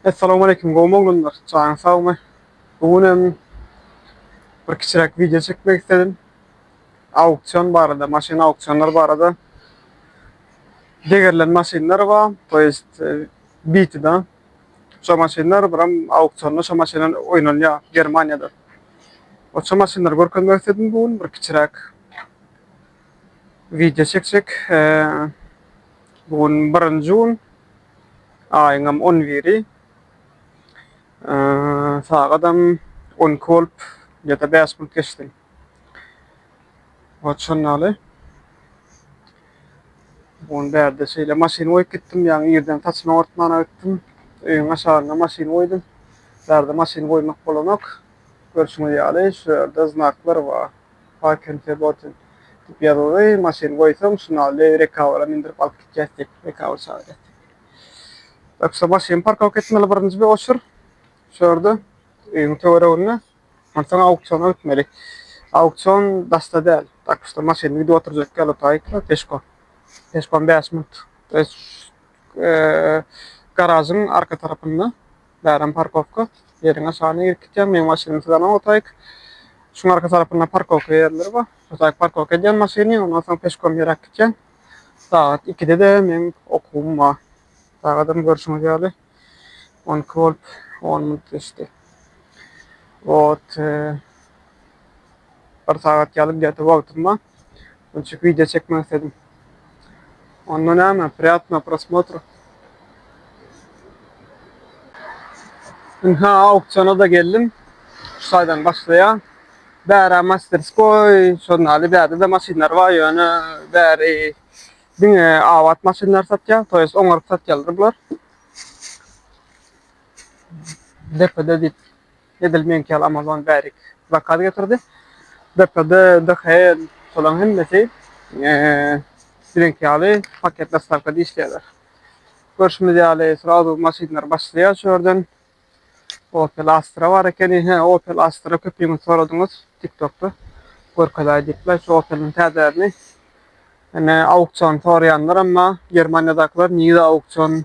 Essalamualeýkum gowmy oglanlar jaňyz sagmy bu gün hem bir kiçiräk wideo çekmek isledim auksion barada maşyn auksionlar barada degerilen maşynlar bar to ýest bitida şo maşynlar biram auksionda şo maşynlar oýnalýar germaniýada oça maşynlary görkezmek isledim bu gün bir kiçiräk wideo çekjek bu gün birinji gün Aýyňam on biri. Sagadam on iki bolup ýa-da bäş bolup geçsin. Wah, şondaly. Ony bärde şeýle maşyny goýup gitdim, ýaňy irden saçymy oňartmana gitdim. Öýüň aşagynda maşyny goýdum. Bärde maşyny goýmak bolanok. Görşüňiz ýaly, şu ýerde znaklar bar. Park and Febburton diýip ýazyldy. Maşyny goýsaň, şunaly rekawera mindirip alyp gitýäs diýip, rekawera çagyrýar. Tak şu maşyny parkowka etmeli birinji bir oçur. Şu ýerde öýüň töwereginde. Onsoň auksiona gitmeli. Auksion daşda däl. Tak şu maşyny gidip oturjak ýaly taýykla peşko. Peşkom bäş minut. Eee garažyň arka tarapynda. Bärem parkowka ýeriňe şany irkitýäň, meň maşynymy siz alaň otaýk. Şuň arka tarapynda parkowka ýerleri bar. Otaýk parkowka edýäň maşyny, ondan soň peşkom ýöräp gitýäň. Sagat ikide-de meň okuwym bar. Sagadym görşüňiz ýaly on iki bolup on minut geçdi. Wot, bir sagat ýaly gete wagtym bar. Gülçük video çekmek istedim. Onda näme? Priýatno prosmotr. Ynha auktiona da geldim. Şu saýdan başlaýar. Bära masterskoý, şondaly bärde de maşynlar bar, ýöne bäri diňe abat maşynlar satýar, to ýest oňaryp satýarlar bular. Depede diýip Edil meňki ýaly Amazon bärik zakaz getirdi. DPD, DHL şolaryň hemmesi biziňki ýaly paket dostawkada işleýärler. Görşümiz ýaly srazu maşynlar başlaýar şu ýerden. Opel Astra bar ekeni. Hä, Opel Astra köpüňiz soradyňyz TikTokda. Görkezäý diýipler şu Opeliň täzärini. Ine auksion soraýanlaram bar. Germaniýadakylar nirede auksion?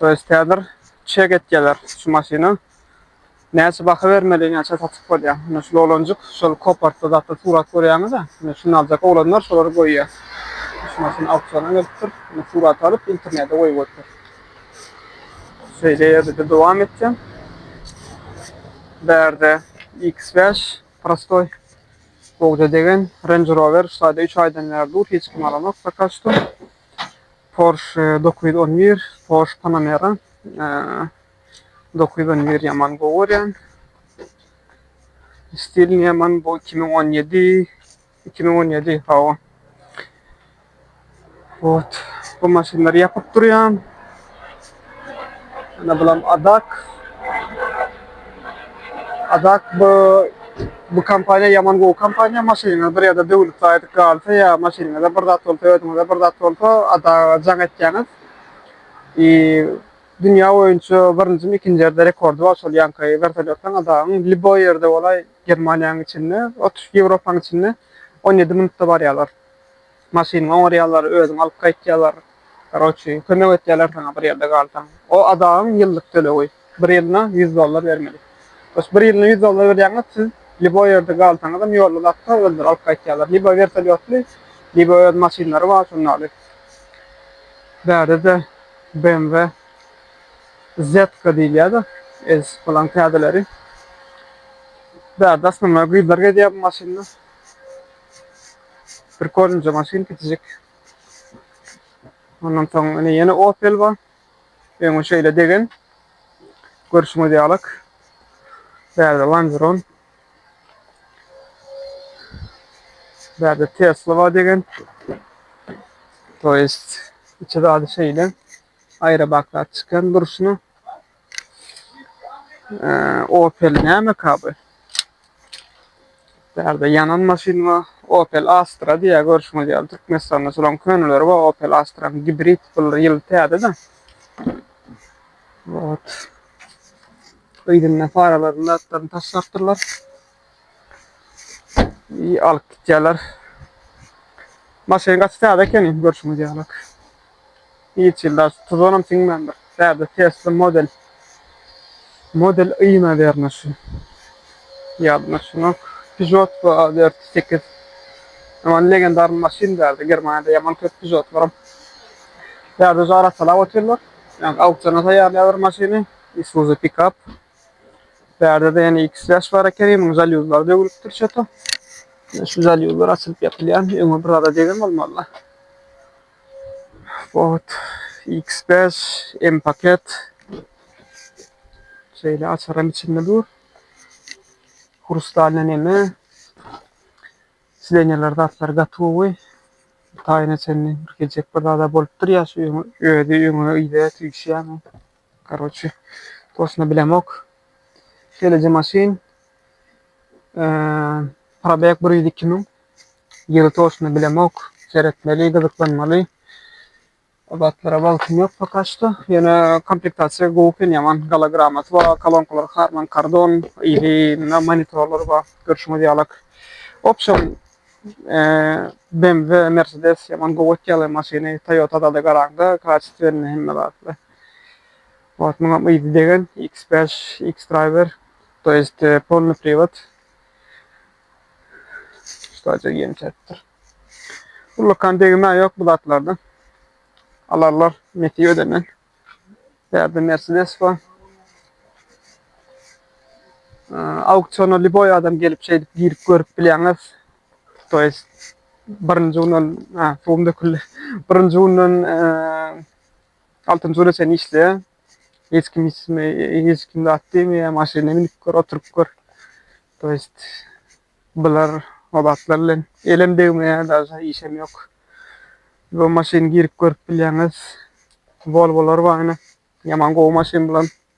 Öz täzir çek et geler şu maşyna näçe baha bermeli näçe satyp bolýa mine şul oglanjyk şol kopartda zatda surat görýäňizä mine şuny aljak oglanlar şolary goýýa şu maşyn auksiona gelipdir mine surat alyp internede goýup goýupdyr şeýle ýerde-de dowam etýän bärde iks bäş prostoý gowja degen renj rower şu taýda üç aýdan bäri dur hiç kim alanok poka şto Porsche dokuz ýüz on bir, Porsche Panamera dokuz ýüz on bir ýaman gowy görýän. Stil ýaman bu iki müň on ýedi, iki müň on ýedi hawa. Ot, bu maşynlary ýapyp durýan. Ana bulam Adak. Adak bu bu kompaniýa ýaman gowy kompaniýa. Maşynyňyz bir ýerde döwlüp gaýdyp galsa ýa maşynyňyzda bir zat bolsa, özüňizde bir zat bolsa, Adaga jaň etýäňiz. I dünýä boýunça birinjimi, ikinji ýerde rekordy bar şol ýaňky wertolýotlaryň Adagyň liboý ýerde bolaý Germaniýanyň içinde, otuş Ýewropanyň içinde on ýedi minutda barýarlar. Maşyny oňarýarlar, özüňi alyp gaýtýarlar. Garoçi, kömek etýärler saňa bir ýerde galsaň. O adagyň ýyllyk tölegi. Bir ýylyna ýüz dollar bermeli. Sos bir ýylyna ýüz dollar berýäňiz, siz liboý ýerde galsaňyzam ýolda zatda özleri alyp gaýtýarlar. Liboý wertolýotly, liboý öz maşynlary bar şundaly. Bärde-de BMW Z-ka diýilýär-de, ez bolan täzeleri. Bärde asmanlar gyzlar gezýär bu maşynda. Bir kolince maşyn gidecek. Ondan soň ine ýene Opel bar. Öňe şeýle degen. Görşüňiz ýaly. Bärde Lanzron. Bärde Tesla bar degen. To jest içi zady şeýle. Aýra baklar çykan durşuna. Opel nämeka bu? Bärde ýanan maşyn bar. Opel Astra diýýär görşüňiz ýaly. Türkmenistanda şolaryň köneleri bar. Opel Astra gibrid bular ýyl täze-de. Ot. Yzynda faralarynda atlaryny taşlapdyrlar. İyi alyp gitýärler. Maşyn gaty täze ekeni görşüňiz ýaly. Hiç ýylda tuzanam siňmändir. Täze Tesla model. Model I nawerno şu. Ýadyma şuňa Peugeot bu ADR 8. Aman legendarny maşyn däldi. Germaniýada ýaman köp Peugeotlaram. Täze jara salap otyrlar. Yani aukciona taýýarlaýarlar maşyny. Isuzu pikap. Bärde-de ýene iki släş bar eken, munuň zalýuzlary döwülipdir çöte. Şu zalýuzlar açylyp ýapylýan, öňe bir zada degen bolmaly-la. Ot, X5, M-paket. Şeýle açaram içinde dur. Hrustalny neme? Silenýalar zatlar gatowy. Taýyna çenli bir gejek bir zada bolupdyr ýa şu öňe, özi öňe ýa tüýşýämi? Karoçi tosuna bilemok. Şeýleje maşyn probeg bir ýüz iki müň. Ýyly toşuna bilemok. Seretmeli, gyzyklanmaly. O zatlara wagtym ýok poka şu. Ýöne komplektasiýa gowy eken ýaman. Gala gramasy bar, kolonkalar harman kardon, iri mundan monitorlar bar. Görşüňiz ýalak. Opşon BMW, Mercedes ýaman gowy etýärler maşyny. Toyota zada garaňda, kaçestwenli hemme zatly. Wah muňam yzy degen X bäş X driver to jest polny priwat. Sadece ýem çäpdir. Ullakan degimä ýok bu zatlarda. Alarlar mesi ödenen. Bärde Mercedes bar. Auktiona liboy adam gelip şeýdip girip görüp bilýäňiz. To jest birinji günden, ha, suwum döküldi. Birinji günden Altynjy güne çenli işleýär. Hiç kim hiç kime hiç kim zat diýmeýär. Maşyna münüp gör, oturyp gör. To jest bular o zatlar bilen elem degmeýär, daže işem ýok. Bu maşyny girip görüp bilýäňiz. Volvolar bar ine. Ýaman gowy maşyn bular.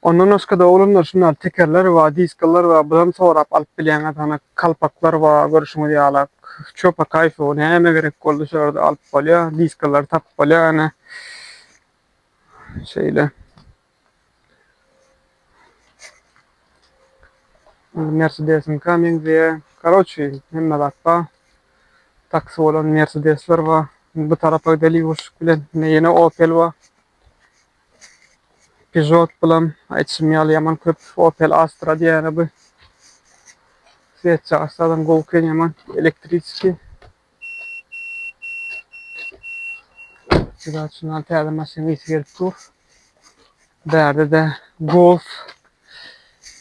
Ondan başga-da oglanlar şunlar tekerler we diskalar we bulam sorap alyp bilýäňiz hany kalpaklar we görüşiňiz ýaly çöpa kaýfy näme gerek boldy şularda alyp bolýa diskalary tapyp bolýa hany şeýle. Indi mersedesiňka meňzeýä karoçi hemme zat bar taksi bolan mersedesler bar bu tarapa gideli ýuwaşlyk bilen indi ýene opel bar Peugeot bilen aýtşym ýaly ýaman köp Opel Astra diýýäne bu. Sweçja Astradan gowy eken ýaman elektriçki. Şular üçin al täze maşyn ýiti gelip dur. Bärde de Golf.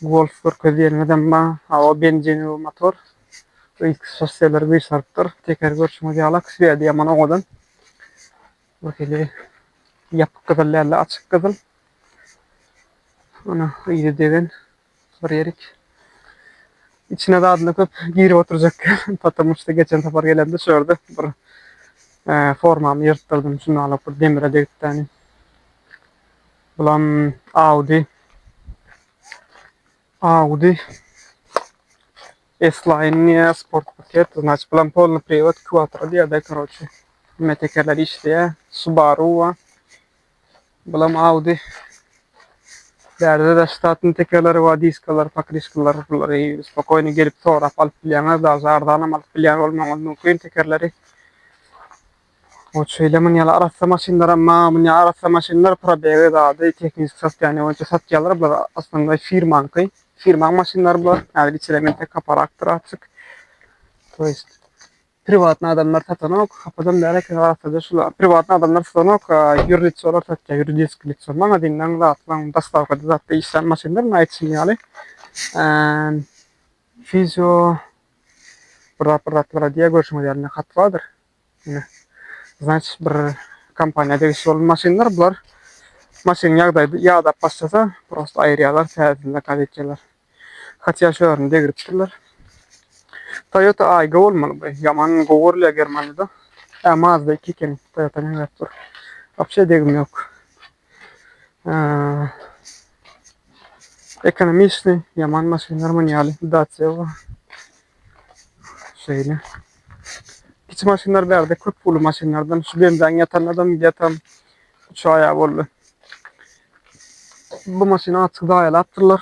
Golf görkezýäniňiz emma awa benzini bu motor. Üýtgüş şosseleri güýçarypdyr. Teker görşüňiz ýaly aksýa ýaman oňadan. Bu hili ýapyk gyzyl däl-de, açyk gyzyl. Ony yzy degen bir erik. Içine zadyny köp girip oturjak däl. Potomu şu geçen sapar gelemde şu ýerde bir formamy ýyrtdyrdym. Şunda alyp bir demire degipdäni. Bulam Audi. Audi. Esliniýa sport paket znaçy bilen polny priwat kvatro diýýärdi karoçi. Hemme tekerler işleýär. Subaru wa. Bulam Audi. Bärde de ştatny tekerleri wa diskalar, pakriskalar bulary spokoýny gelip sorap alyp bilýäňiz. Daže arzanam alyp bilýän bolmagyňyz mümkin tekerleri. Ol şeýle mün ýaly arassa maşynlaram ma münýä arassa maşynlar probegi zady tehniki sostoýaniýe boýunça satýalar bular osnonnoý firmaňky firmaň maşynlary bular häzir içerä men tek kaparakdyr açyk to ýest priwatny adamlar satanok hapadan bäri eken arassaja şular priwatny adamlar satanok ýür litsolar satýar ýuridiski litso magazinleň zatlaň daslapkada zatda işlän maşynlar mundan aýtşym ýaly fizio bir zat bir zatlar diýýär görşüňiz ýaly hat bardyr Ine. Znaç bir kompaniýa degişli bolan maşynlar bular. Maşyn ýagdaýy ýadap başlasa, prosta aýyrýarlar, täzesini zakaz etýärler. Hatja şu ýerini degripdirler. Toyota Aygo bolmaly bu. Ýaman gowy görülýär Germaniýada. Ä Mazda iki ekeni. Toyota näme edip dur. Wapşe degim ýok. Ekonomistni ýaman maşynlar münýäli Dacia bar. Şeýle. Kiçi maşynlar bärde köp pully maşynlardan şu benzaň ýatan adam ýatan uçaýa boldy. Bu maşyny açyk zaýalapdyrlar.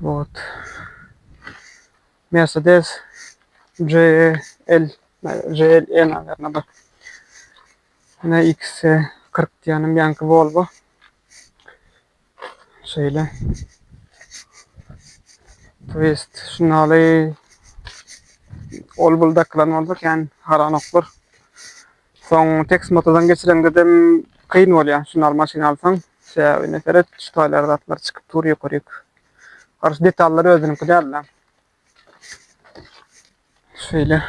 Wot. Mercedes GL GLE nazarna bak. Ana X40 diýenim ýanky Volvo. Şeýle. Twist şunaly ol bul dakylan bolsa kän haranoklar. Soň teksmotodan geçireňdedem kyn bolýar. Şunar maşyn alsaň sebäbi ine seret şu taýlar zatlar çykyp dur ýokaryk. Garşy detallar özüniňki dälda. Şeýle.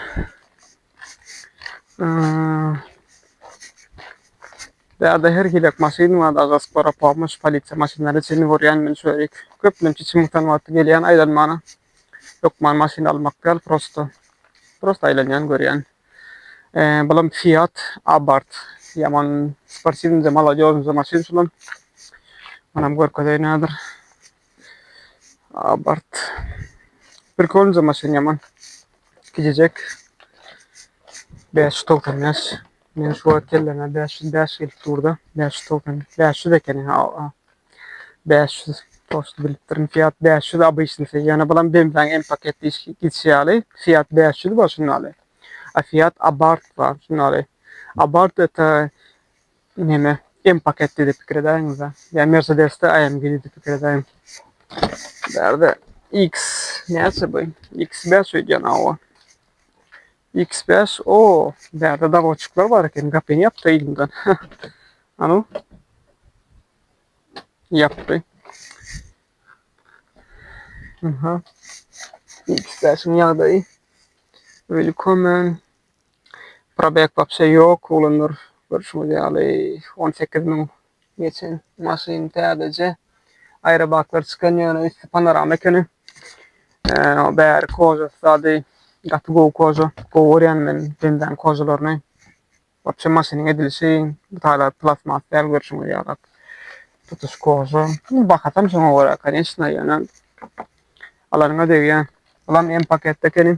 Däde her hilek maşyn bar da gaspara pomoş polisiýa maşynlary çeni borýan men şöýrik. Köplenç içim utan wagty gelýän aýlanmana. Hökman maşyn almak däl prosto. Prosto aýlanýan görýän. Bulam Fiat Abarth ýaman sportiwnyda malodýoznda maşyn şulam. Munam görkezeýin häzir. Abarth. Prikoliňda maşyn ýaman. Gijejek. 595. Men şu wagt kelläme 505 gelip durda. 595 ekeni. 500 post bilipdirin fiat 500 abyşnisi ýana bulam bemzaň m paket diş gitşi ýaly fiat 500 bar şun ýaly a fiat abart bar şun ýaly abart eta neme m paket diýip pikir edäýiňizä ýa mersedesde amg diýip pikir edäýiň bärde x näçe bu x 500 ýana o X bäş o bärde dagoçuklar bar eken gapyny ýapda ýyldymdan anu ýapdy Aha. X bäşiň ýagdaýy Willkommen Probek wapşe ýok ulanlar görşüňiz ýaly on sekiz müň Geçen maşyn täzeje aýrabaklar çykan ýöne üsti panorama ekeni. Bäri kožasy zady gaty gowy koža. Gowy görýän men bendäň kožalaryny. Wapşe maşynyň edilişi taýlap plasmas däl görşüňiz ýalak. Tutuş koža. Bahasam şoňa görä koneçna ýöne alanyňa degýär. Bulam M-paketde ekeni.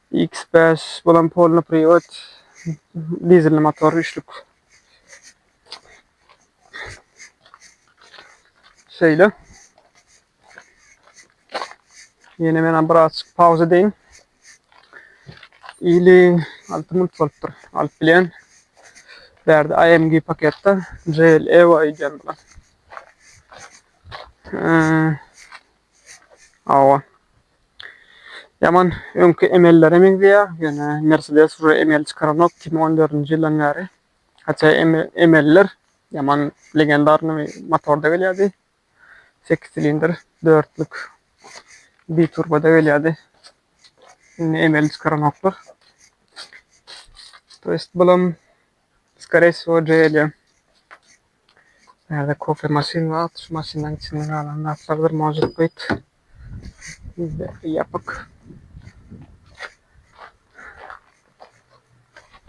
X5 bolan polny privod dizelli motor üçlük. Şeýle. Ýene men bir aç pauza deýin. Ili 6 minut bolupdyr. Alyp bilen. Bärde AMG paketde JL Evo aýdýan bular. Ee, Hawa. Ýaman öňki emellere meňzeýär, ýöne Mercedes uje emeli çykaranok iki müň on dördünji ýyldan bäri. Haça emelliler ýaman legendarnymy motorda gelýärdi. Sekiz silindr, dörtlük biturboda gelýärdi. Indi emeli çykaranoklar. To ýest bulam Skore wsyo je edýän. Näde kofe maşyn wagt şu maşynlaryň içinde galan zatlardyr možut byt. Ýapyk.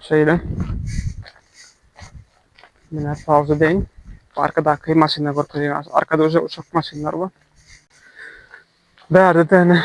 Şeýle. Mine pauza deň. Arkadaky maşynlar görkezýän. Arkada uja uçak maşynlar bar. Bärde däne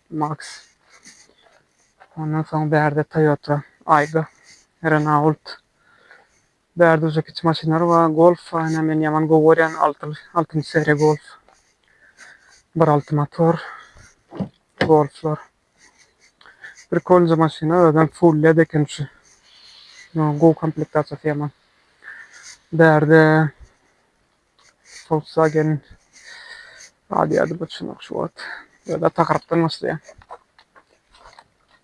Max. Ondan soň bärde Toyota Aygo, Renault. Bärde uje kiçi maşynlar bar. Golf aýna men ýaman gowy görýän altyly, altynjy seriýa Golf. Bir alty motor Golflar. Prikolnyja maşyna özem full led eken şu. Gowy komplektasiýasy ýaman. Bärde Volkswagen galýardy bir çumak şu wagt. Ýa-da takarapdan başlaýar.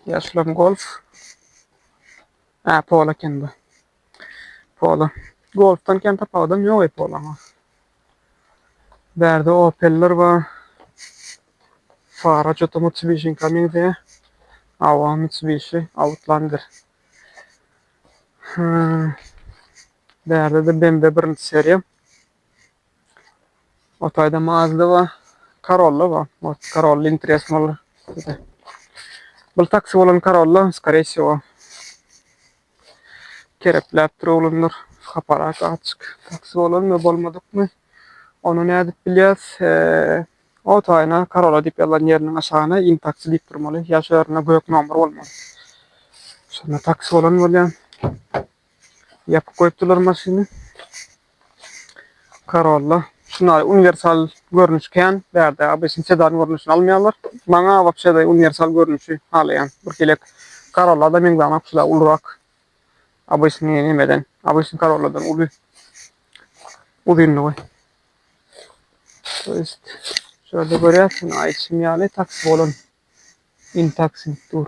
Ýaşulam Golf. Hä, Polo eken bu. Polo. Golfdan kän tapawudam ýok-eý Polaňa. Bärde Opeller bar. Fara çota Mitsubishiňka meňzeýär. Hawa, Mitsubishi Outlander. Hä. Bärde-de Bembe birinji seriýa. O taýda Mazda bar. Corolla bar. Ot Corolla interes bolar. Bul taksi bolan Corolla, skore всего. Kerepläp dur oglanlar. Haparak açyk. Taksi bolanmy, bolmadykmy? Ony nädip bilýäs? O taýyna Corolla diýip ýazylan ýeriniň aşagyna in taksi diýip durmaly. Ýa şu ýerinde gök nomer bolmaly. Şonda taksi bolan bolýar. Ýapyp goýupdylar maşyny. Corolla. Şunda uniwersal görnüş kän. Bärde obýaşyn sedan görnüşini almaýarlar. Maňa wapşe-de uniwersal görnüşi halaýan. Birhilek Corolla-da meňzänok şula ulurak. Obýaşny nämeden, obýaşny Corolla-dan uly uzynlygy. To ýest şu ýerde görýärsiň aýdyşym ýaly taksi bolan. Intaksi diýip dur.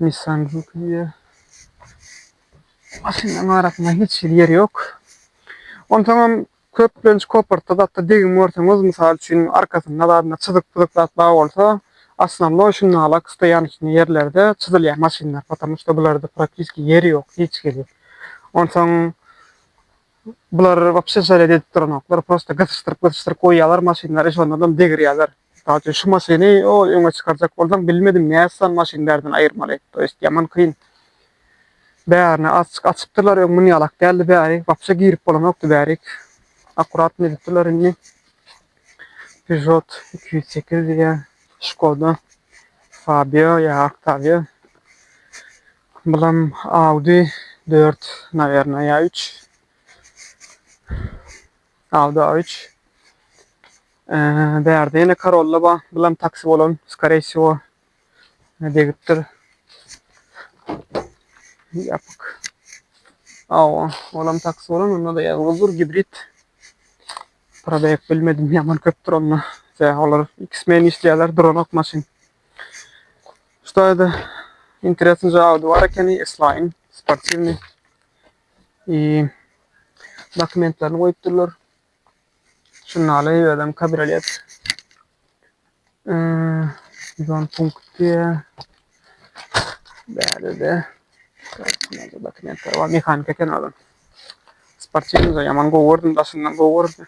Nissan Juke-ye maşynlaryň arasynda hiç hili ýer ýok. Onsoňam köplenç kopertda zatda degim görseňiz, mysal üçin, arkasynda zadynda çyzyk-pyzyk zat bar bolsa, osnownoý şu nalak stoýançnyý ýerlerde çyzylýar maşynlar, потому что bularda propiski ýer ýok hiç hili. Onsoň bular wapşe şeýle-de edip duranoklar, prosta gysyşdyryp-gysyşdyryp goýýarlar maşynlary, şondanam degirýärler. Mysal üçin şu maşyny ol öňe çykarjak bolsaň bilmedim nätsan maşyn bärden aýyrmaly toýst ýaman kyn bärine açyk açypdyrlar öň muny ýalak däldi bäri wapşe girip bolanokdy bärik akuratny edipdirler indi Peugeot iki ýüz sekiz diýýä Skoda Fabio ýa Octavia bulam Audi dört nawerna ýa üç Awda üç bärde ýene karolla bar bulam taksi bolan skorey wsiwo degipdir ýapyk awa olam taksi bolan onda-da ýazgydyr gibrid prodawek bilmedim ýaman köpdür onda se olar iki smen işleýärler duranok maşyn ştoýda interesny jawdy bar ekeni eslaýyn sportiwny dokumentlerini goýup durlar. Şundaly özüm kabriolet. Zon punkty. Bärde dokumentler bar. Mehanik eken adam. Sportivniýda ýaman gowy gördüm, daşyndan gowy gördüm.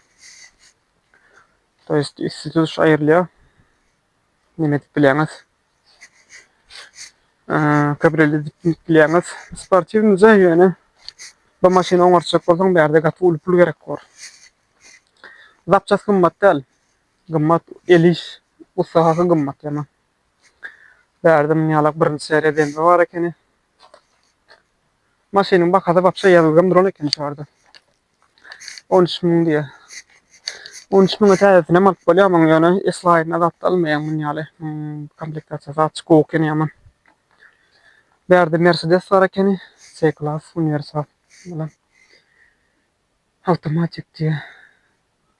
To ýest üsti tutuş aýrylýar. Neme edip bileňiz? Kabriolet edip gidip bilýäňiz. Sportiwnyja ýöne bu maşyny oňartjak bolsaň bärde gaty uly pul gerek bor. Zapças gymmat däl. Gymmat el iş ussahasy gymmat ýaman. Bärde muny ýalak birinji seriýa BMW bar ekeni. Maşynyň bahasy wapşe ýazylgam duran ekeni şu ýerde. On üç müň diýýär. On üç müňe täzesinem alyp bolýar muny, ýöne eslaýynda zat almaýaň muny ýaly. Komplektasiýasy açyk gowy ekeni ýaman. Bärde Mercedes bar ekeni, C-klass, uniwersal bilen. Awtomatik diýýär.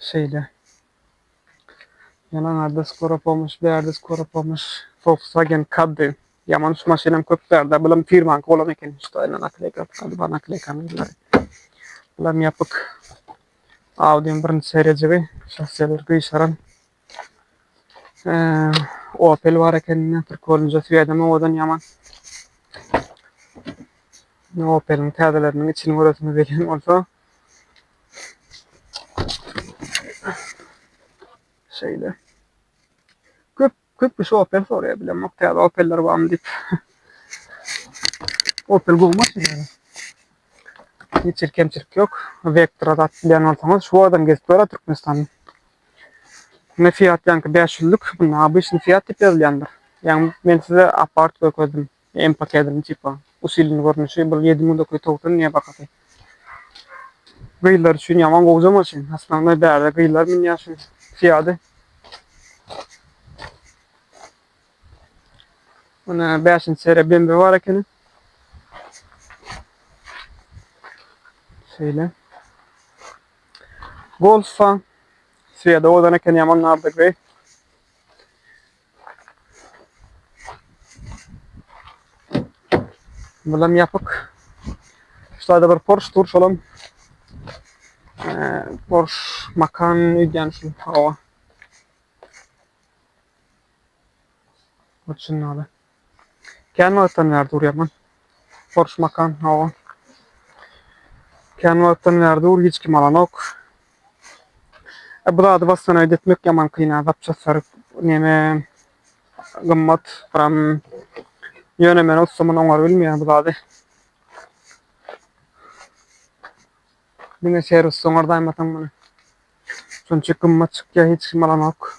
Şeýle. Ýalan arda skoro pomoş bärde skoro pomoş Volkswagen Caddy. Ýaman şu maşynam köp bärde. Bulam firmanky bolan eken şu daýyna nakleyka atylady bar nakleyka ýyllar. Bulam ýapyk. Audiň birinji serejigi şahsyýetler gyşaran Opel bar ekenine türk bolunca süýedem owadan ýaman. Ne Opel'in täzeleriniň içini göresiňiz gelýän bolsa. Şeýle. Köp köp kişi Opel soraýar bilen bak täze Opel'ler barmy diýip. Opel gowy maşyn ýaly. Hiç bir kemçilik ýok. Vectra zat bilýän bolsaňyz şu adam gezip görä Türkmenistanda. Ine Fiat ýaňky bäş ýüzlük, muny obyçny Fiat diýip ýazylýandyr. Ýagny men size Apart görkezdim, M pakedynyň tipa, usilenni görnüşi, bir ýedi müň dokuz ýüz togsan diýýär bahasy. Gyzlar üçin ýaman gowja maşyn, asmanly bärde gyzlar münýär şu Fiady. Ine bäşinji seriýa BMW bar ekeni. Şeýle. Golfa Sweda ozan eken ýaman nardygy. Bulam ýapyk. Şularda bir Porsche dur şolam. Porsche Macan öýdýän şu hawa. Uçunnaly. Kän wagtdan bäri durýarmyn. Porsche Macan, hawa. Kän wagtdan bäri dur, hiç kim alanok. E, bu zady wastanawid etmek ýaman kyn, zapçastlary neme gymmat, pram. Ýöne men ustamyny oňar bilmeýän bu zady. Diňe serwisde oňardaýym ataň muny. Şunça gymmat çykýar, hiç kim alanok.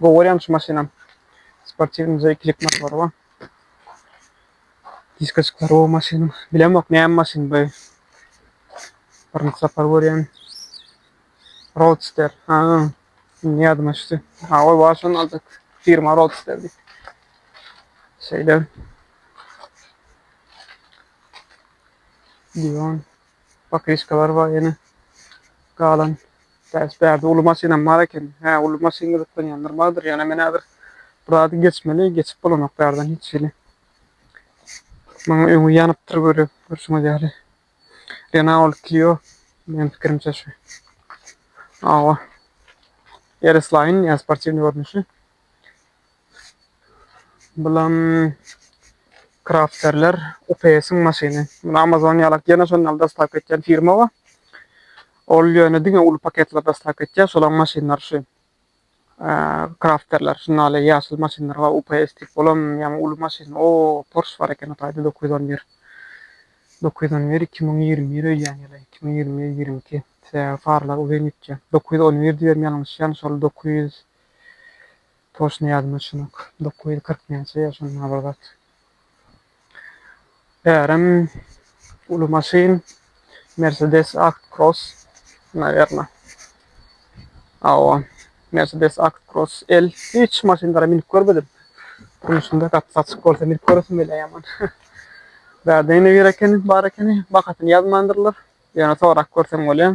Gowy görýän şu maşynam. Sportiwnyja ikilik motory bar. Diskoçklar gowy maşynyň. Bilemok näme maşyn bu. Birinji sapar görýän. Roadster. Ha. Indi ýadyma düşdi. Ha, ol wagt şony aldyk. Firma Roadster diýip. Şeýle. Diwan. Pokrişkalar bar ýene. Galan bäş bärde uly maşynam bar eken. Hä, uly maşyn gyzyklanýanlar bardyr. Ýöne men häzir bu zady geçmeli, geçip bolanok bärden hiç hili. Maňa öňi ýanypdyr görä, görşüňiz ýaly. Renault Clio meniň pikirimçe şu. Awa. RS-Line, ýa sportiwnyý görnüşi. Bulam Crafterler UPS-iň maşyny. Muny Amazon ýalak ýene şondan dostaw etýän firma bar. Ol ýöne diňe uly paketler dostaw etýär. Şolaň maşynlary şu. Crafterler şunda ale ýaşyl maşynlar bar. UPS diýip olam ýa uly maşyn. O, Porsche bar eken otayda 911. 911 2021 öýýän ýaly. 2021 22. Farlar uzyn gitýär. 911 diýen ýalňyşýan şol 900 Toşny ýadyma düşenok. Dokuz ýüz kyrk näçe ýa şonda bir zat. Bärem uly maşyn Mercedes Act Cross nawerno. Awa. Mercedes Act Cross L hiç maşynlara minip görmedim. Durmuşymda gapysy açyk bolsa minip göresim gelýär ýaman. Bärde ýene bir ekeni bar ekeni bakasyny ýazmandyrlar. Ýöne sorap görseň bolýa.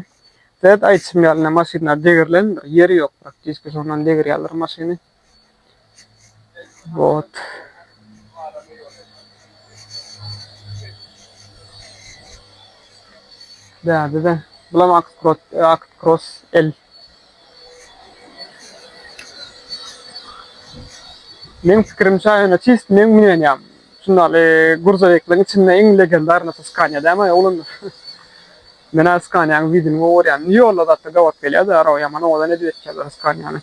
Zed aýtşym ýalyna maşynlar degirlendir ýeri ýok praktiski şondan degirýaler maşyny. Wot. Däde de. Bulam Act Cross L. Meň pikirim çaý ýöne çist meň münenýam şundaly gurzawekliň içinde iň legendarnysy skania dämi oglan men a skaniaň widini gowy görýän ýolla zatda gabat gelýärdi araba ýaman owadan edip etýärler skaniany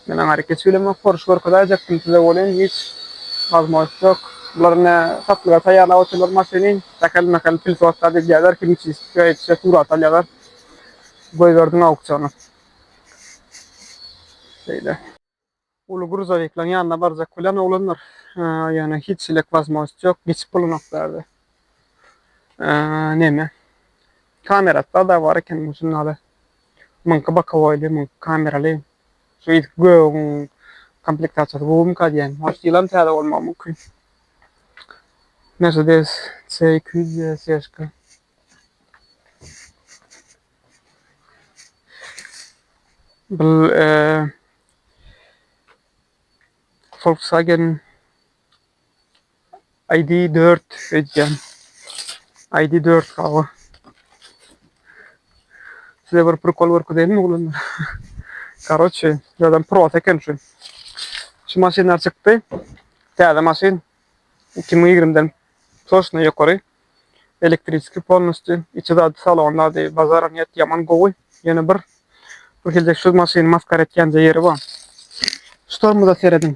men aňa rekeç bilemok porsche görkezäýjekdim size welin hiç wazmožnost ýok bular ine satlyga taýýarlap otyrlar maşyny dakel makel pil sotda degýärler kimçi şeýtse surat alýarlar. goýberdim auksyona. Şeýle. Uly gruzowikleriň ýanyna barjak bilen oglanlar, ýöne hiç hili wozmožnost ýok, geçip bolanok bärde. Neme? Kamerasy-da bar eken bu žurnaly. Muňky bokowoýly, muňky kameraly. Şu ilki gögüň komplektasiýasy gowumyka diýýän. Может, ýylam täze bolmagy mümkin. Mercedes C200 CSK. Bu Volkswagen ID4 edýän. ID4 gawa. Size bir prikol görkezeýinmi oglanlar? Karoçe, adam prot eken şu. Şu maşynlar çykdy. Täze maşyn. 2020-den toşna ýokary. Elektriski polnusty içi zady salony zady bazara niýet ýaman gowy ýöne bir bir hilde şu maşyny maskara etýänje ýeri bar. Şu tormoza serediň.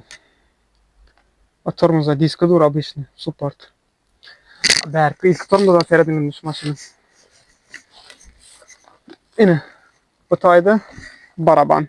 O tormoza diski dur obyçny support. Bärki ilki tormoza serediň indi şu maşyny. Ine bu taýda baraban.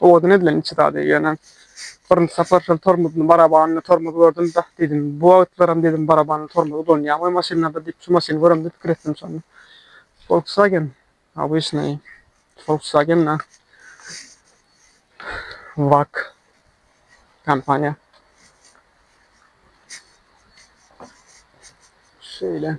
Owadan edilen içi zady, ýöne birinji sapar şol tormozyny, barabanly tormozy gördüm-de, diýdim, bu wagtlaram diýdim, barabanly tormoz ulanýarmy maşynlarda diýip, şu maşyny göremde pikir etdim şonda. Volkswagen, obyçnaý, Volkswagen-a, Wag kompaniýa. Şeýle.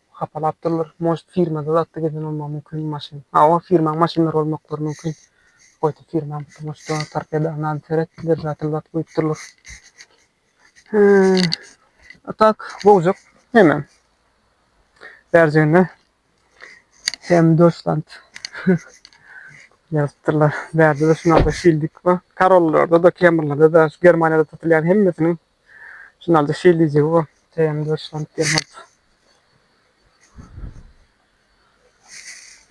Hapalap durlar. Может firmada zatda gezen bolmagy mumkin maşyn. Hawa firmaň maşynlary bolmaklary mumkin. Goýdy firmaň tomusda torpeda nady seret bir zat bir zat goýup durlar. A tak bowjak hemem. Bärjiginde hem dostant ýazyp durlar. Bärde de şunaqa şildik bar. Karollarda da kemrlerde de şu Germaniýada satylýan hemmesiniň Finalda şeýle diýjek bu TM dörtsank Gerhard.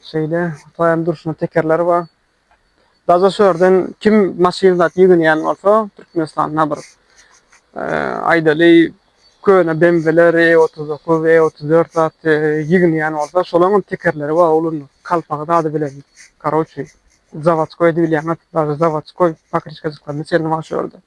Şeýle TM durşuna tekerler bar. Daza şörden kim maşyn zat ýygynýan bolsa Türkmenistanda bir aýdaly köne BMW-ler, E39, E34 zat ýygynýan bolsa şolaryň hem tekerleri bar oglum. Kalpagy zady bilen. Karoçi. Zawodskoý diýilýän zat. Daza zawodskoý pakriçkajyklaryny çenli bar şörde.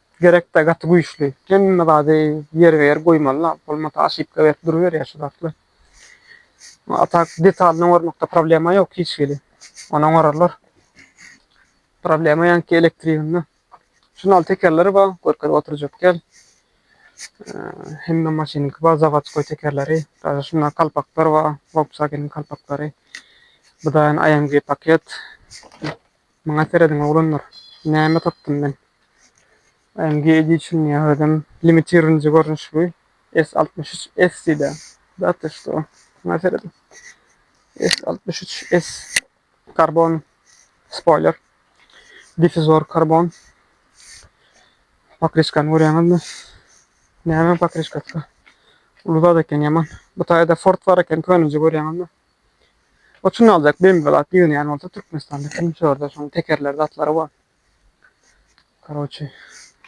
Gerekdä gaty güýçli. Hemme zady ýerbe-ýer goýmaly-la. Bolmasa oşipka berip duruberýär şu zatlar. A tak detalny oňarmakda problema ýok hiç hili. Ony oňararlar. Problema ýaňky elektriginde. Şunuň al tekerleri bar, görkezip oturjak däl. Hemme maşynyňky bar, zawodskoý tekerleri. Daže şunda kalpaklar bar, Volkswageniň kalpaklary. Bu da ýene AMG paket. Maňa serediň oglanlar. Näme tapdym men. AMG Edition ýa özem limitirnji görnüş bu. S altmyş üç S diýda. Da to što. Maňa serediň. S altmyş üç S karbon spoiler. Difuzor karbon. Pakriçkany görýäňizmi? Näme pakriçkasy? Uly zat eken ýaman. Bu taýda Ford bar eken könüji görýäňizmi? Otun aljak bembi zat ýygnaýan bolsa Türkmenistanda kim şörde şoň tekerler zatlary bar. Karoçi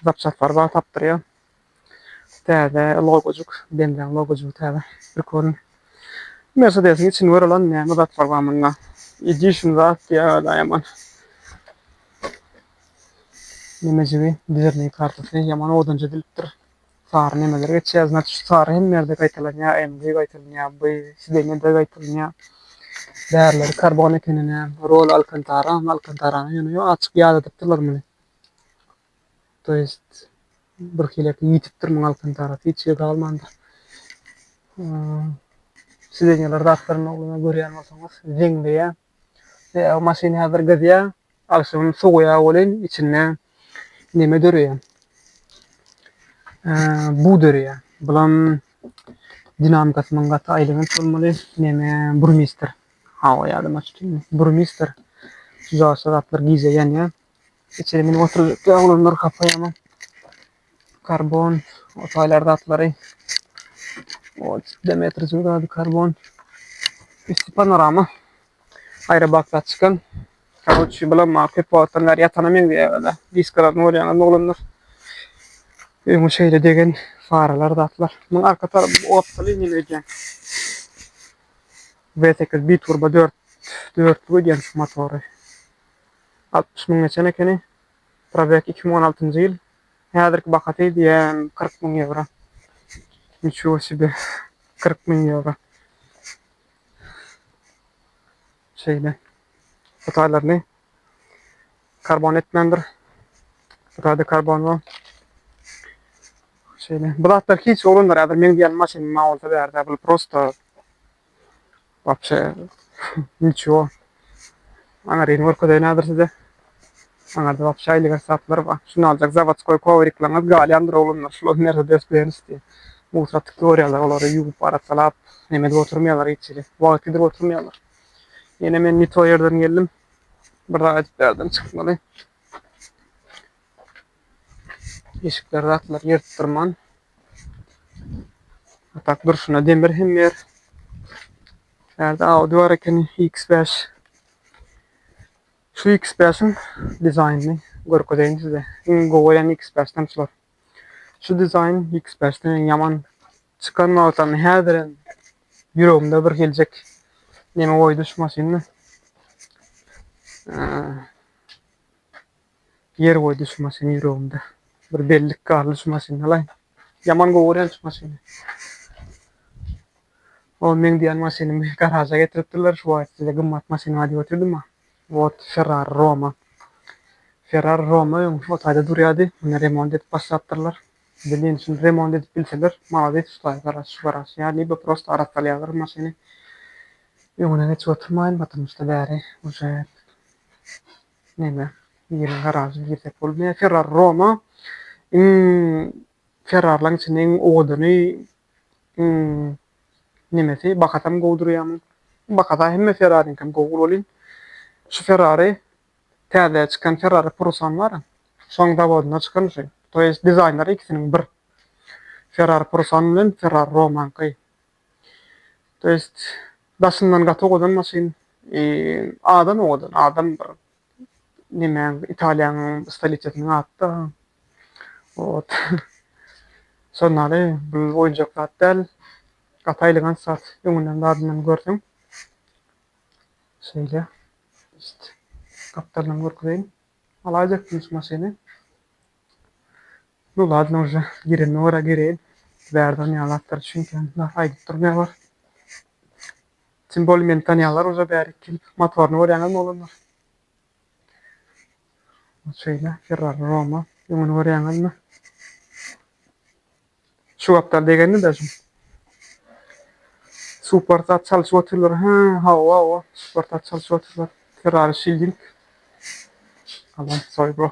zapçaslar bar tapdyrýa. Täze logojuk bembiň logojugy täze bir körün. Mersedesiň içini gör alan näme zatlar bar munda. Edition zat ýa da ýaman. Nämejigi dizerniň kartasy ýaman odunja dilipdir. Sary nemeler geçýär znat şu sary hemme ýerde gaýtalanýar emgi gaýtalanýar by sidenede gaýtalanýar bärleri karbon ekenine rol alkantara alkantarany ýöne ýok açyk ýadadypdyrlar muny to ýest bir hilek ýitipdir muň alkantarasy hiç ýerde galmandyr sidenýalar zatlaryny ogluma görýän bolsaňyz zeňleýär. Ýa maşyn häzir gyzýa, agşamam sowaýa welin içinde neme döreýä? Bug döreýä. Bulam dinamikasynyň gaty aýlanýan bolmaly. Neme burmister. Hawa ýa-da maşyn burmister. Şu zatlar gije ýanýa. Içeri meniň oturjak ýaglarylar hapaýama. karbon, otaýlar zatlary, o demetr zürgady, karbon, üsti panorama, aýra bakda çykan. Karoçi, bulam ma köp wagtdan bäri ýatana meňzeýär-de, diskalardan görýäňiz oglanlar. Öňe şeýle degen faralar zatlar. Munuň arka tarapy otly inen öýdýän. B sekiz biturba dört, dörtlik öýdýän şu motory. Altmyş müň geçen ekeni. Probek iki müň on altynjy ýyl. Häzirki bahasy diýen kyrk müň ýewro. Niçigo sebe kyrk müň ýewro. Şeýle. Bu taýlaryny karbon etmändir. Bu taýda karbon bu. Şeýle. Bu zatlar hiç oglanlar häzir meň diýen maşyn ma bolsa bärde. Bu prosta Wapşe niçio. Aňaryny görkezeýin häzir size. Aňarda wapşe aýlyk esaplar bar. Şuny aljak zawodskoý kowriklaryňyz galýandyr oglanlar. Şular Mersedes Benz diýip. Musatdyk görýärler olary ýuwup arassalap hem edip oturmaýarlar hiç hili. Wagt gidirip oturmaýarlar. Ýene men nito ýerden geldim. Bir zat aýdyp bärden çykmaly. Eşikler zatlar ýyrtdyrman. Atak durşuna demir hem ber. Nerede Audi var ekeni X5. Şu X5'in dizaynını görkezeyim size. İn goýan X5'den şular. Şu dizayn X5'den yaman çıkan wagtlarynda häzir hem ýüregimde bir geljek neme goýdy şu maşynda. Ýer goýdy şu maşyn ýüregimde. Bir bellik galdy şu maşyny alaýyn. Ýaman gowy görýän şu maşyny. O meň diýen maşynymy garaja getiripdirler. Şu wagt size gymmat maşyn aýdyp otyrdym-a. Wot Ferrari Roma. Ferrari Roma öň o taýda durýardy. Muny remont edip başlapdyrlar. Bilin şuny remont edip bilseler malades şu taý garaş şu garaş ýa libo prosta arassalýarlar maşyny. Öňüne geçip oturmaýyn baturmuşda bäri uje. Neme biriň garažyna girsek bolup ne ferrari roma iň ferrarilaň içinde iň owadany iň nemesi bakasam gowy durýamy bakasa hemme ferrariňkem gowy bolup welin şu ferrari täze çykan ferrari purusan bara şoň zawodynda çykan şu to ýest dizaýnlary ikisiniň bir ferrari purusan bilen ferrari romaňky To jest daşyndan gaty owadan maşyn adam owadan adam bir nemäň italiýaň stoliçesiniň atda wot şonary bul oýunjak zat däl gaty aýlygant zat öňünden zadyndan görseň şeýle just gapdalyndan görkezeýin alaýjakdym şu maşyny. Nu ladno uje, gireniňe görä gireýin, bärden ýaly zatlar düşünýän bar, aýdyp dur ne bar. Tim boli meni tanýanlar uje bäri iki ýyl motoryny görýäňizmi oglanlar? Bu şeýle, Ferrari Roma, öňüni görýäňizmi? Şu gapdal degenini daşym. Super zat çalyşyp otyrlar, hä, hawa, hawa, super zat çalyşyp otyrlar. Ferrari Shielding. Alan soý bro.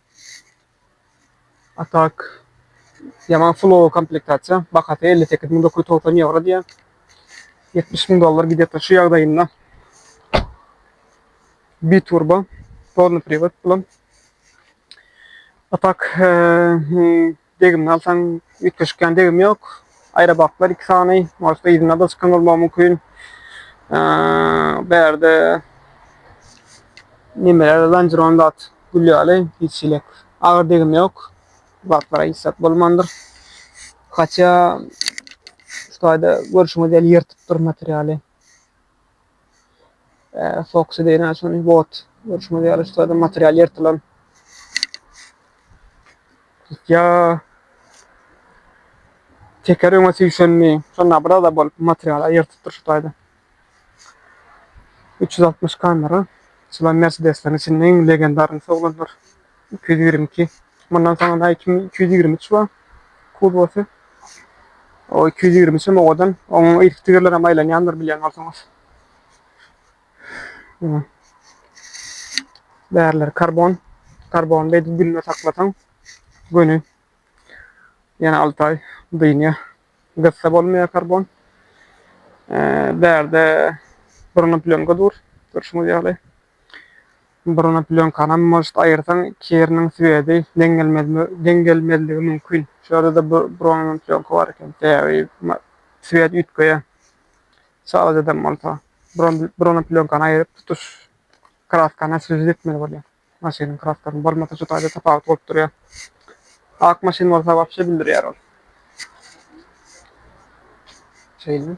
A tak ýaman flow komplektasiýa. Bahasy elli sekiz müň dokuz ýüz togsan ýewro diýýär. Ýetmiş müň dollar gidýärkä şu ýagdaýynda. Biturbo, polny priwod bilen. A tak Degimini alsaň, üýtgeşik ýan degim ýok. Aýrabaklar iki sany. Orta yzynda-da çykan bolmagy mümkin. Bu ýerde nemeler zanjiron zat gül ýaly, hiç elek agyr degim ýok. Zatlara hiç zat bolmandyr. Haça şu taýda görşüňiz ýaly ýyrtypdyr materialy. Foxy diýýän şony bot. Görşüňiz ýaly şu sırada material ýyrtylan. Tutýa. Teker öňe süýşenmi? Şonda biraz da bolup material ýyrtypdyr şu taýda. 360 kamera. Şular Mercedes-leriň içinde iň legendarynyň oglanlar. Iki ýüz ýigrimi iki. Mundan soňra iki ýüz ýigrimi üç bar. Kuzowasy. O iki ýüz ýigrimi üçem owadan. Onuň irki tigirleri hem aýlanýandyr bilýän bolsaňyz. Bärler karbon. Karbon beýdip günde saklasaň göni. Ýene alty aý dynýa. Gyssa bolmaýar karbon. Bärde burnup lönge dur. Görşüňiz ýaly. Buruna plýonkanam может aýyrsaň kiriniň swedi deň gelmezligi mümkin. Şu ýerde-de bronza plýonka bar eken. Sebäbi swet üýtgeýär. Çalajadan bolsa bronza plýonkany aýryp tutuş kraskany oswežit etmeli bolýar. Maşynyň kraskasyny bolmasa şu taýda tapawut bolup durýar. Ak maşyn bolsa wapşe bildirýär ol. Şeýle.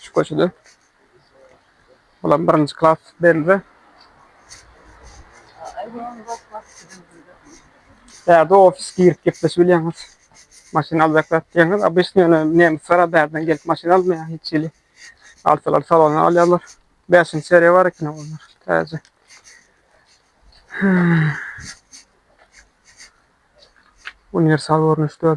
Şu köçede. Bulam birinji klas belli. Bärde ofis girip gepleşip bilýäňiz. Maşyn aljak zat diýäňiz. Obýsny ýöne nemsler bärden gelip maşyn almaýar hiç hili. Alsalar salona alýarlar. 5-nji seriýa bar ekeni olar. Täze. Universal görnüşde.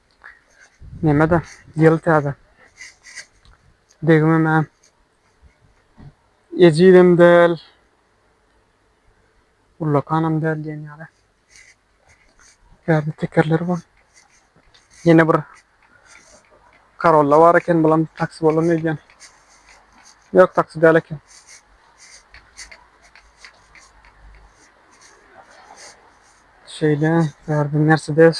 Neme-de, ýyl täze. Degimem-ä ejizem däl, ullakanam däl diýen ýaly. Täze tekerleri bar. Ýene bir Corolla bar eken, bulam taksi bolan öýdýän. Ýok, taksi däl eken. Şeýle, bärde Mercedes.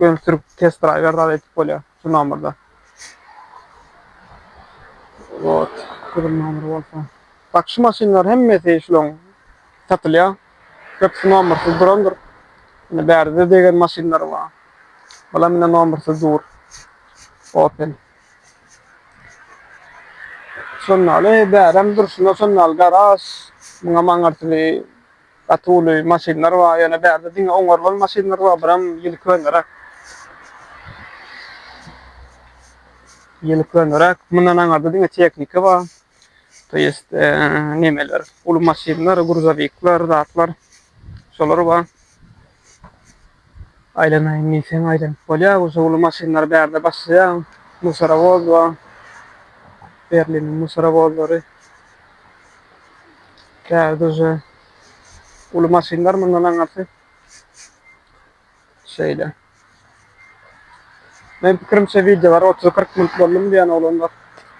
Gel sürüp test driver zat etip bolýa şu nomerda. Wot gürüm nomer bolsa. Bak şu maşynlar hemmesi şulaň satylýa. Köpsi nomersiz durandyr. Ine bärde degen maşynlar bar. Bulam ine nomersiz dur. Opel. Şondaly bärem durşuna şondaly garaž. Muňam aňyrsyny Gaty uly maşynlar bar, ýöne bärde diňe oňarlan maşynlar bar, buram ýyly köneräk. Ýyly köneräk, mundan aňarda diňe tehnika bar. To ýest nemeler, uly maşynlar, gruzowikler, zatlar, şolar bar. Aýlanaýyn diýseň aýlanyp bolýar, bu suwly maşynlary bärde başlaýar, musorowod bar, Berliniň musorowodlary. Bärde uje uly maşynlar mundan aňyrsy şeýle. Meniň pikirimçe wideolar otuz-kyrk minut boldumy diýýän oglanlar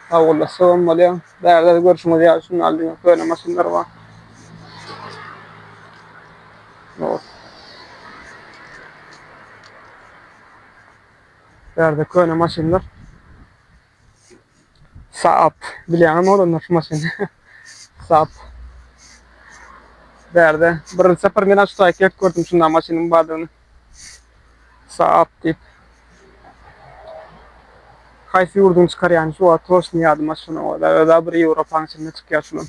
sagbolassagam bolýar. Bärde görşüňiz ýaly şundan diňe köne maşynlar bar. Not. Bu ýerde köne maşynlar. Saap. Bilýäňizmi olanlar şu maşyny? Saap. Bu ýerde birinji sapar men şu saýt gelip gördüm şunda maşynyň bardygyny. Saap diýip. Haýsy ýurduň çykarýany şu wagt hoş ýadyma şunuň özä bir Ýewropanyň içinde çykýar şunuň.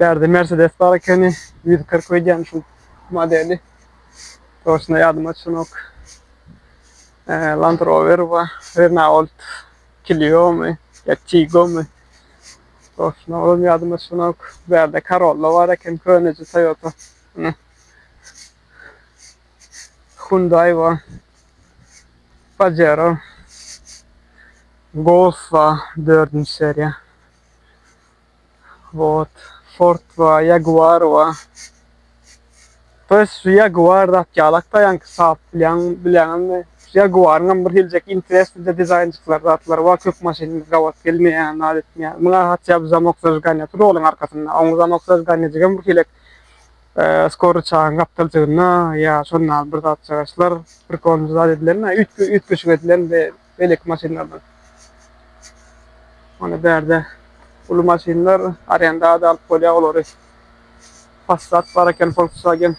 Bärde Mercedes bar ekeni. 140 öýdýän şu modeli. Toşna ýadyma düşenok. Land Rover bar. Renault Clio'my? Ya Tigo'my? Toşna olam ýadyma düşenok. Bärde Corolla bar eken. Köneje Toyota. Hyundai bar. Pajero. Golf bar. Dördünji seriýa. Wot, Ford we Jaguar we Biz şu Jaguar zat ýalak daýanky sap bilýän bilýäňizmi? Jaguaryň hem bir geljek interesli de dizaýnjyklar zatlary bar köp maşynymyz gabat gelmeýär zat etmeýär. Muňa hatja bu zamok zajiganja tur olaň arkasynda oň zamok zajiganjajygam bir hilek skor ryçagyň gapdaljygynda ýa şonda bir zatjagaşlar prikol zat edilen-ä üýtgeşik edilen bir beýleki maşynlardan. Mana bärde uly maşynlar arendada alyp bolýar olary. Passat bar eken, Volkswagen.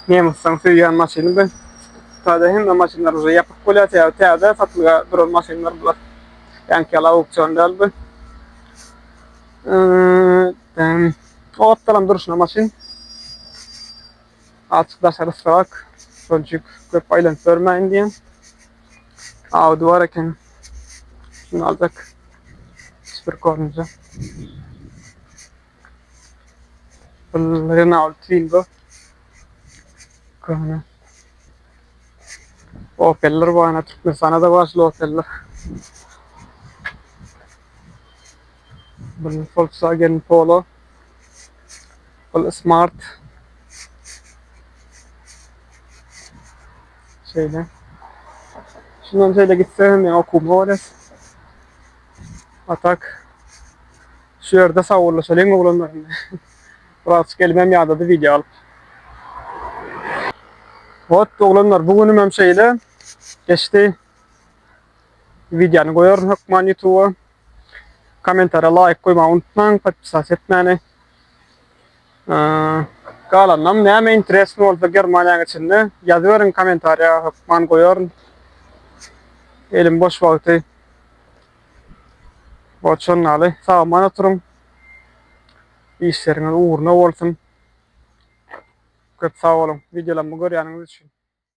Nemisden söýýän maşyny bu. Täze hemme maşynlar uje ýapyk bolýar, sebäbi täze satlyga duran maşynlar bular. Ýaňky ýaly auksion däl bu. Ee, Gapdalam durşuna maşyn. Azjyk daşary ysrak, şonçik köp aýlanyp ýörmäýin diýen ady bar eken. Şuny aljak. Süpür korunca. Bul Renault Twingo. Köne. Opeller bana Türkmenistana da başlı Opeller. Bul Volkswagen Polo. Ol smart şeýle. Şundan şeýle gitse hem ýa okuw bolas. Atak. Şu ýerde sawurlaşalyň oglanlar. Biraz gelmem ýadady video alyp. Ot oglanlar bu günüm hem şeýle geçdi. Videony goýaryn hökman YouTube-a. Kommentara laýk goýmagy unutmaň, podpisas etmäni. Galanynam näme interesny bolsa Germaniýa geçende ýazyberiň kommentariýa hökman goýaryn. Elim boş wagty borçan ýaly sag-aman oturyň. Işleriňiz ugruna bolsun. Köp sag boluň, wideolarymy görýäniňiz üçin.